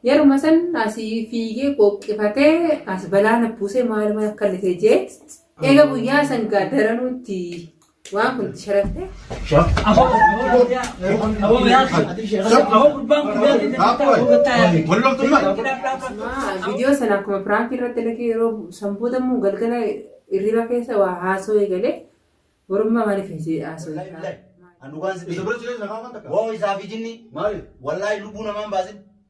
Yeruma san asii fiigee qoqqifatee as balaa na buusee maaluma akka lite jee eega guyyaa san gaadaranuutti Waan kun sharaftee. Viidiyoo sana akkuma piraankii irratti illee yeroo sanboota immoo galgala irriba keessa waa haasoo eegalee warummaa maaliif hojii haasoo eegalaa. Woo isaa fi jinni. Wallaahi lubbuu namaan baasin.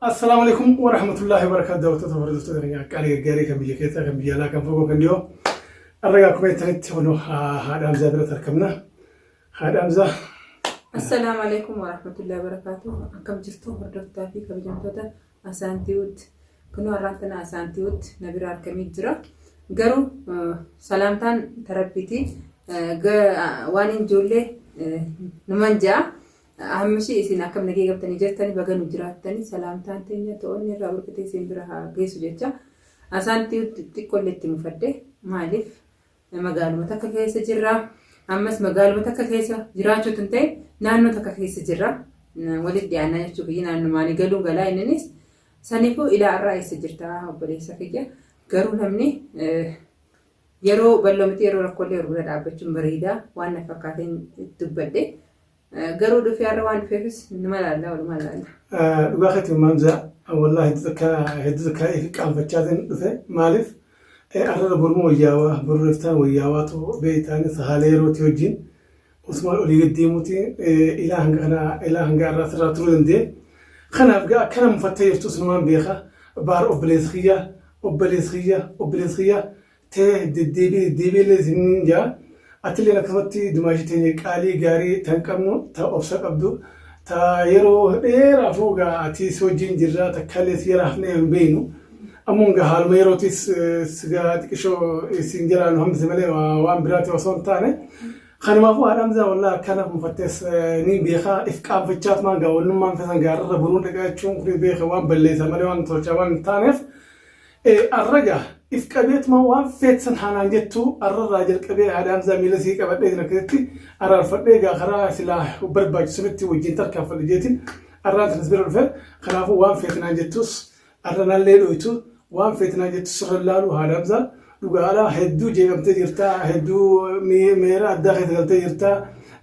Assalaamu alaikum wa rahmatullahi wa barakaatu daawwattoota hordoftoota keenya qaalii gaggaarii kan biyya keessaa kan biyya alaa kan fagoo kan dhiyoo arraga akkuma jettanitti kunoo haadha Hamzaa biratti argamna haadha Hamzaa Assalaamu alaikum wa rahmatullahi wa barakaatu. Akkam jirtu hordoftaa fi kabajamtoota Asaantiwut kunoo har'aan tana asaantiwut na bira argamee jira. Garuu salaamtaan tarabbiiti waan hin ijoollee numan ja'a. Hammishii isin akkam nagee qabtanii jirtanii baga nu jiraattanii salaamtaan teenya to'onni irraa burqitee isin bira haa geessu jecha. Asaantiwut xiqqoollee itti mufadde maaliif Magaaluma takka keessa jirra. Ammas magaaluma takka keessa jiraachuu tun ta'e naannoo takka keessa jirra. Walitti dhiyaannaa jechuu kiyya naannumaanii galuu galaa inninis saniifuu ilaa irraa eessa jirta obboleessa kiyya. Garuu namni yeroo bal'oo miti yeroo rakkoolee wal bira dhaabbachuun bareeda waan na fakkaateen dubbadhe. Garuu dhufee har'a waan dhufeefis nima laalla walumaa laalla. Dhugaa keetti maamzaa wallaahi hedduu takka hedduu takka ifi qaanfachaa ta'in dhufe maaliif arrara boruma wayyaawaa boruma iftaan wayyaawaa ta'u beektaan sahaalee yerootii wajjin usumaan olii gad deemuuti ilaa hanga kana ilaa hanga irraa sirraa turuu danda'e. Kanaaf gaa akkana mufattee jirtu sunumaan beeka baar obboleessa kiyya obboleessa kiyya obboleessa kiyya tee deddeebii deddeebii illee isiniin jaa atilleen akkasumatti dumaashii teenya qaalii gaarii tan qabnu ta obsa qabdu ta yeroo dheeraafuu gaa ati si wajjin jirraa takkaalee si jala hafnee hin beeknu ammuun gaa haaluma yerootis sigaa xiqishoo isin jalaa nu hambise malee waan biraati osoo hin taane kanumaafuu haadhaan isaa wallaa akkana kunfattees ni beekaa if qaanfachaat maan gaa wannummaan keessan gaararra buruun dhaqaachuun kun beeka waan balleessa malee waan tolchaa waan hin taaneef Ee arra gaa if qabeetuma waan feet san haa naan jettuu arra irraa jalqabee haadha Hamzaa miila isii qabadhee kan akkasitti araarfadhee gaa karaa silaa barbaachisu sanitti wajjin tarkaanfadha jeetiin arraan sanas bira dhufe kanaafuu waan feet naan jettuus arra nallee dhooytu waan feet naan jettu sirra laaluu haadha Hamzaa dhugaa alaa hedduu jeeqamtee jirta hedduu mi- meera addaa keessa galtee jirta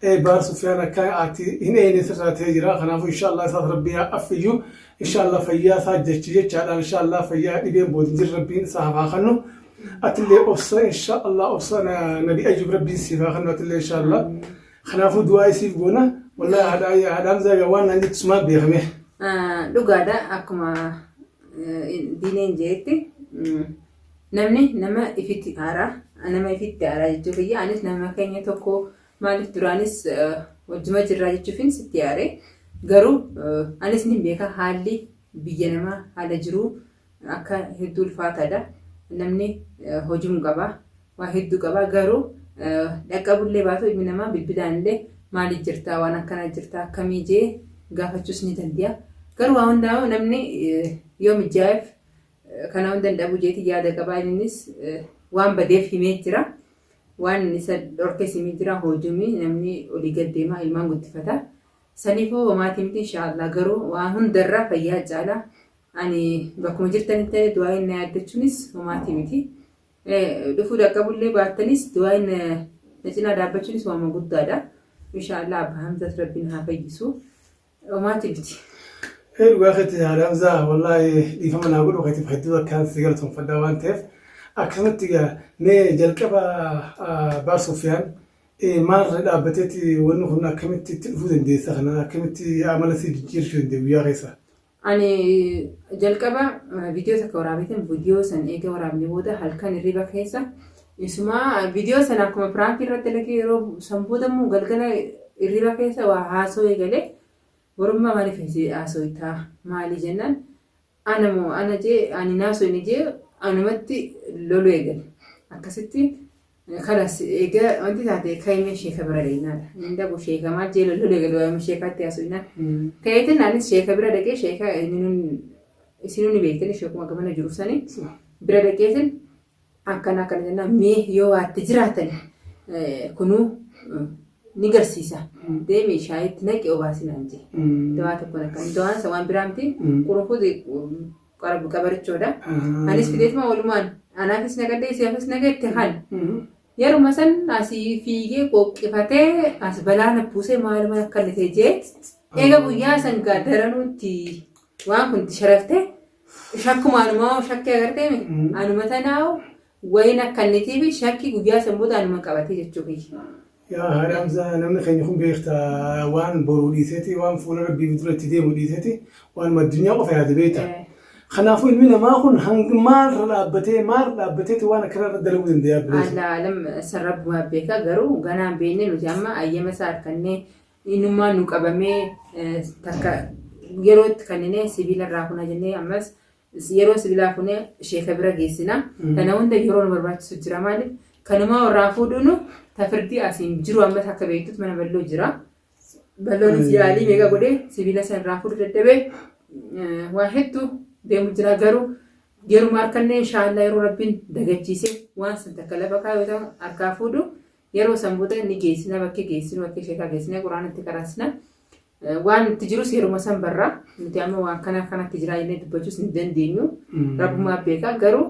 Ee, baar Sufyaan akka ati hin eeyne sirraa ta'ee jira kanaafuu inshaallah isaas rabbii haa affiyyuu Inshallah fayyaa isaa jecha jechaadhaan inshallah fayyaa dhibeen bood hin jirre rabbiin isaaf haa kennu. Atillee obsa inshallah obsa na- nabi ayyub rabbiin siif haa kennu atillee inshallah. Kanaafuu du'aa isiif goona. Wallahi haadhaa yaa haadhaa hamzaa yaa waan naan jettu sumaa beekamee. Ah, dhugaadha akkuma eh, diineen jeetti mm, namni nama ifitti aaraa nama ifitti aaraa jechuu kiyya anis nama keenya tokko Maaliif duraanis wajjuma jirraa jechuufin sitti yaade garuu anis ni beeka haalli biyya namaa haala jiruu akka hedduu ulfaataadha. Namni hojiin qaba waa hedduu qaba garuu dhaqqabullee baatu ilmi namaa bilbilaanillee maali jirtaa waan akkana jirtaa akkamii jee gaafachuus ni dandi'a. Garuu waa hundaa'u namni yoo mijaa'eef Kanaa hunda hin dhabu jeeti yaada qabaa innis waan badeef himee jira. Waan isa dhorkes himee jira hoojumi namni olii gad deemaa ilmaan guddifata. Saniifoo homaati miti inshaallah garuu waan hundarra fayyaa caala. Ani bakkuma jirtanitti illee du'aayin na yaaddachuunis homaati miti. Dhufuu dhaqqabullee baattanis du'aayin na cinaa dhaabbachuunis waama guddaadha. Inshaallah abba Hamzaas rabbiin haa fayyisu. Dhomaati biti. Hee dhugaa keetti yaada Hamzaa wallaahi dhiifama naa godhu keetiif hedduu akkaan si galatoomfadha waan ta'eef akkasumatti egaa mee jalqaba Abbaa Sufiyaan maalirra dhaabbateeti wanni kun akkamitti itti dhufuu dandeessa kana akkamitti amala si jijjiirachuu dandeenya guyyaa keessa. Ani jalqaba viidiyoo takka waraabeetiin viidiyoo san eega waraabne booda halkan hirriba keessa Isuma video sana akkuma prank irratti lake yeroo san booda immoo galgala irriba keessa waa haasoo eegale warummaa maaliif hajee haasoo itaa maalii jennaan ana moo ana jee ani naasoo inni jee anumatti lolu eegale akkasitti kalas eega wanti taate kaimee sheeka bira deemnaadha inni dhabu sheeka maal jee lolu eegale waa'ee sheekaatti haasoo innaan kaeetin anis sheeka bira dhaqee sheeka isinuu ni beektani sheekuma gamana jiru sanii bira dhaqeetin Akkana akkana jennaan mee yoo waatte jiraatan kunuu ni garsiisa deemi shaayitti naqi obaasi naan jee. Dawaa tokkoon akkana dawaan isa waan biraa miti qurufuuti qabarichoodha. Anis fideetuma walumaan anaafis naqadhee isaafis naqeetti kan yeruma san asii fiigee qoqqifatee as balaa na buusee maaluma akka inni ta'e jee eega guyyaa san gaa daranuutti waan kun itti sharaftee Shakkuma anuma shakkii agartee mi? Mm. Anuma tanaawu wayiin akkannitiif shakkii guyyaa san booda anuma qabatee jechuu kiyya. Yaa haadha Hamzaa namni keenya kun beekta waan boruu dhiiseeti waan fuula rabbii dura itti deemu dhiiseeti waan addunyaa qofa yaada beekta. Eh. Kanaafuu ilmi namaa kun hanga maalirra dhaabbatee maalirra dhaabbateeti waan akkana irra dalaguu danda'a bileessa. Alla alam san rabbumaa beeka garuu ganaan beenne nuti amma ayyama isaa harkannee Inumaa nu qabamee takka yeroo itti kanninee sibiila irraa kuna jennee ammas yeroo sibiilaa funee sheeka bira geessina. Kana hunda yeroo nu barbaachisu jira maaliif kanumaa warraa fuudhuunu tafirdii asiin jiru ammas akka beektutti mana balloo jira. Balloonis yaalii meeqa godhee sibiila san irraa fuudhu dadhabee waa hedduu deemu jira garuu yeruma harkannee inshaallah yeroo rabbiin dagachiise waan san takka lafa kaayoo ta'u harkaa fuudhu Yeroo san booda inni geessina bakkee geessinu bakkee sheekaa geessinee quraana itti qaraasina. Waan itti jirus yeruma san barra. Nuti amma waan kana kanatti jiraa jennee dubbachuus hin dandeenyu. Rabbumaa beeka garuu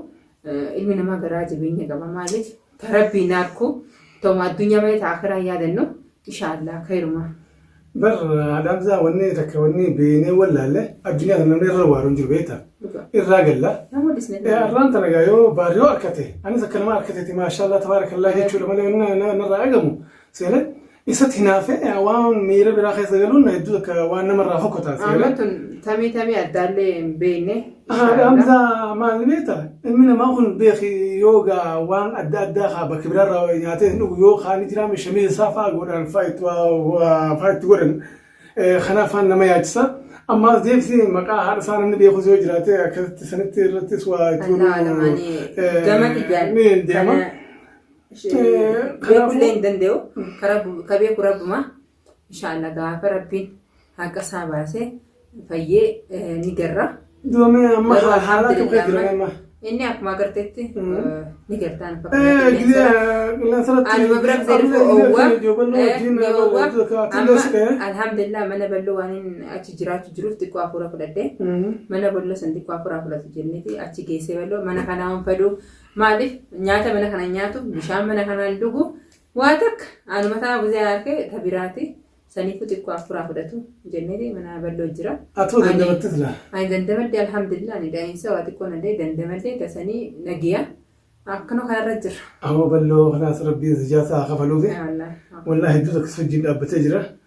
ilmi namaa garaa jabeenya qaba maaliif ta rabbiin arku ta'uma addunyaa malee ta akhiraa hin yaadannu inshaallaa kayrumaa. Bar Adaamsaa wanni takka wanni beenee wallaalle addunyaa kana namni irra waaruun jiru beektaa? Irraa galla. Nama dhisne. Irraan tana gaa yoo baar yoo harkate anis akka nama harkateeti maashaallah tabaarakallaa jechuudha malee wanni na- na- narraa eegamu seele isatti hinaafee waan miira biraa keessa galuun hedduu akka waan namarraa fokkotaa seele. Amma tun tamii tamii addaallee hin beekne Haadha Hamzaa maal beekta ilmi namaa kun beeki yoo gaa waan adda addaa haa bakka biraarraa nyaatee hin dhugu yoo kaan jiraame shamii isaa fa'aa godhaan fa'aa itti waa- fa'aa itti godhan Eh, kanaaf faan nama yaachisa amma as deebisee maqaa haadha isaa namni beekus yoo jiraate akkasitti sanitti irrattis waa itti Allahu a'lam, ani eh, gama dhiyyaan ni deema. kana- Eh, kanaafuu- beekullee hin danda'u Ka rabbu- ka beeku rabbuma Inshaalla gaafa rabbiin haqa isaa baasee fayyee ni garra. Doomee amma Garuu haala tokko alhamdulillah jira amma amma. inni akkuma agartetti ni gartaan Eh, gidee qilleensarratti Anuma bira gidee amma owwa gidee joobannoo wajjin ni owwa iddoo kaa'atiin amma deessi ka'ee. alhamdulillah mana ballo waan hin achi jiraachu jiruuf xiqqoo hafuura fudhadhe mana ballo san xiqqoo hafuura fudhatu jenniti achi geessee ballo mana kanaa waan fadhu maaliif nyaata mana kana nyaatu bishaan mana kanaan dhugu Waa takka anuma taa buzee harke ta biraati saniifu xiqqoo affuraa fudhatu jennee mana balloo jira. Atoo dandamatte sila. Ani dandamadde alhamdulillah ani daa'imsa waa xiqqoo nadee dandamadde tasanii nagiya akkana kanarra jirra. Awoo balloo kanaas rabbiin zijaa saa kafaluufi. Wallaahi hedduu takka si wajjin dhaabbatee jira.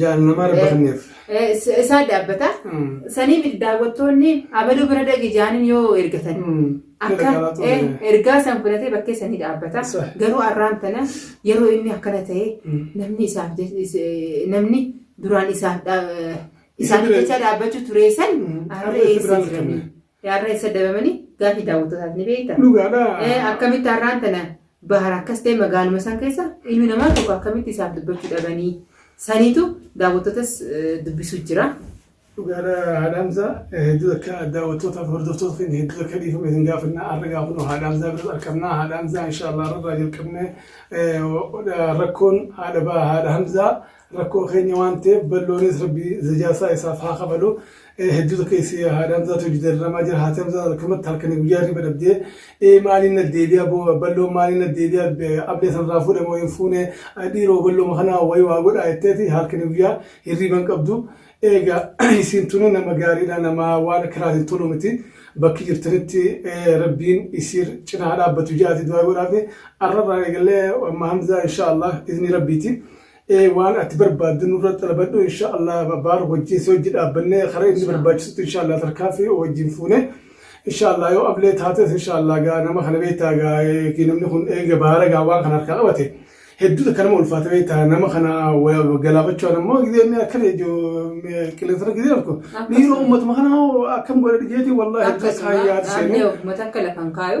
Jaal nama arbaanneef. isaa daabbata. Saniif daawwattoonni abaluu bira dhaqi jaaniin yoo ergatan. Akka ergaa san fudhatee bakkee sanii dhaabbata. Garuu arraan tana yeroo inni akkana ta'e namni isaaf namni duraan isaaf isaaniif jecha dhaabbachuu ture san har'a eessa jiranii? Har'a eessa dabamanii gaafii daawwattootaaf ni beekta. Dhugaadha. Eh, Akkamitti har'aan tana bahar akkas ta'e magaaluma san keessa ilmi namaa tokko akkamitti isaaf dubbachuu dhabanii saniitu daawwattootas eh, dubbisuu jira. Dhugaadha haadhaamsaa hedduu akka daawwattootaaf hordoftoota keenya hedduu akka dhiifame isin gaafanna har'a gaafnu haadhaamsaa biratti argamna haadhaamsaa inshaallah irraa jalqabne eh, rakkoon haadha baa haadha hamzaa Rakkoo keenya waan ta'eef balloonis rabbi zajaasaa isaaf haa kafalu hedduu takka isii haadha hamzaatu hojii dararamaa jira haati hamzaa halkamatti halkanii guyyaa hirriba dhabdee ee maaliin na deebi'a balloon maaliin na deebi'a ablee sanarraa fuudhe moo hin fuune dhiiroo ballooma kana wayi waa godhaa jetteeti halkanii guyyaa hirriba hin qabdu eega isiin tuni nama gaariidha nama waan akkanaatiin toluu miti bakki jirtanitti rabbiin isiir cinaa dhaabbatu ja'aati du'aa godhaafi arrarraa eegallee amma hamzaa inshaallah izni rabbiiti. Ee waan ati barbaaddu nurra xalabadhu insha Allah baar wajjin si wajji dhaabbanne kara inni Inshaa Allah. barbaachisutti insha Allah tarkaanfii wajjin fuune insha Allah yoo ablee taates insha Allah gaa nama kana beektaa gaa eegi namni kun eega baara gaa waan kana harkaa qabate hedduu takka nama ulfaata beektaa nama kana wa- galaafachuudhaan ammoo gidee inni akkana iju qilleensarra gidee arku Akkasuma. dhiiroo ummatuma kana hoo akkam godhe dhijeetii wallahi hedduu Akkasuma akkaan yaadu seenee dhaabnee ofummata akka lafan kaayu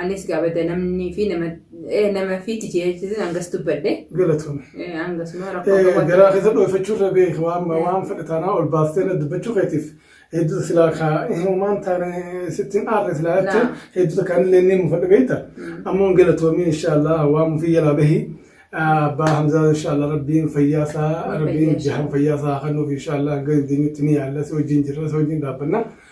Anis gaabada namni fi nama eh, nama fi tijeechisin hangas dubbadhe. Galatoome. Eh, Hangasuma rakkoo Eh, qabaatu. Garaa keessa dhoofachuu irra beeku waan waan fedhe taanaa ol baastee na dubbachuu keetiif hedduuta silaa kaa himumaan taane sittiin aarre silaa Naa. jechuun hedduuta kaan illee ni mufadhe beekta. Ammoo galatoomii inshaallah waan mufii jalaa bahi. Ah, Abbaa Hamzaa inshaallah rabbiin fayyaa isaa rabbiin Fayyaa. jahan fayyaa isaa kennuuf inshaallah hanga dandeenyutti ni yaalla si wajjin jirra si wajjin dhaabbanna.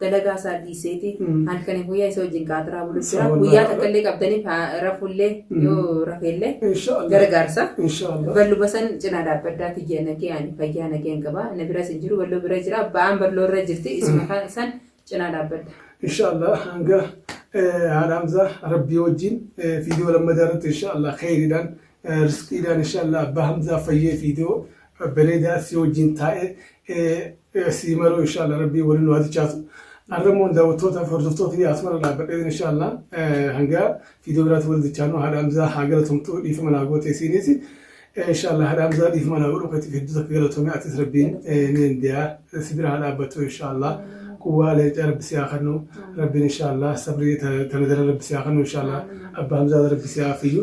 dalagaa isaa dhiiseeti Mm. halkanii guyyaa isa wajjin qaataraa bulu jira Sawa guyyaa laala. takka illee qabdanii fa- rafullee Mm. yoo rafeellee Inshaallah. gargaarsa Inshaallah. ballu basan cinaa dhaabbaddaa kiyya nagee ani fayyaa nageen qaba na biras hin jiru balloo bira jira ba'aan balloo irra jirti isuma kan san cinaa dhaabbadda Inshaallah hanga eh, haadha Hamzaa rabbii wajjin eh, fiidiyoo lammataa irratti inshaallah kheyriidhaan eh, risqiidhaan inshaallah abbaa Hamzaa fayyee fiidiyoo Babbareedaa si wajjin taa'ee sii maruu inshaalla rabbii waliin nu hatichaatu. Arra immoo daawwattoota fi hordoftoota kiyya asumara dhaabbadhee inshaalla hanga viidiyoo biraatti wal dichaanu haadha Hamzaa haa galatomtu dhiifama naa goote isiinis inshaalla haadha Hamzaa dhiifama naa godhu keetiif hedduu takka galatome atis rabbiin ni dandeeya si bira haa dhaabbattu inshaalla quwwaa leencaa rabbi si haa kennu rabbiin inshaalla sabrii tana dara rabbi si haa kennu inshaalla abba Hamzaa rabbi si haa fayyu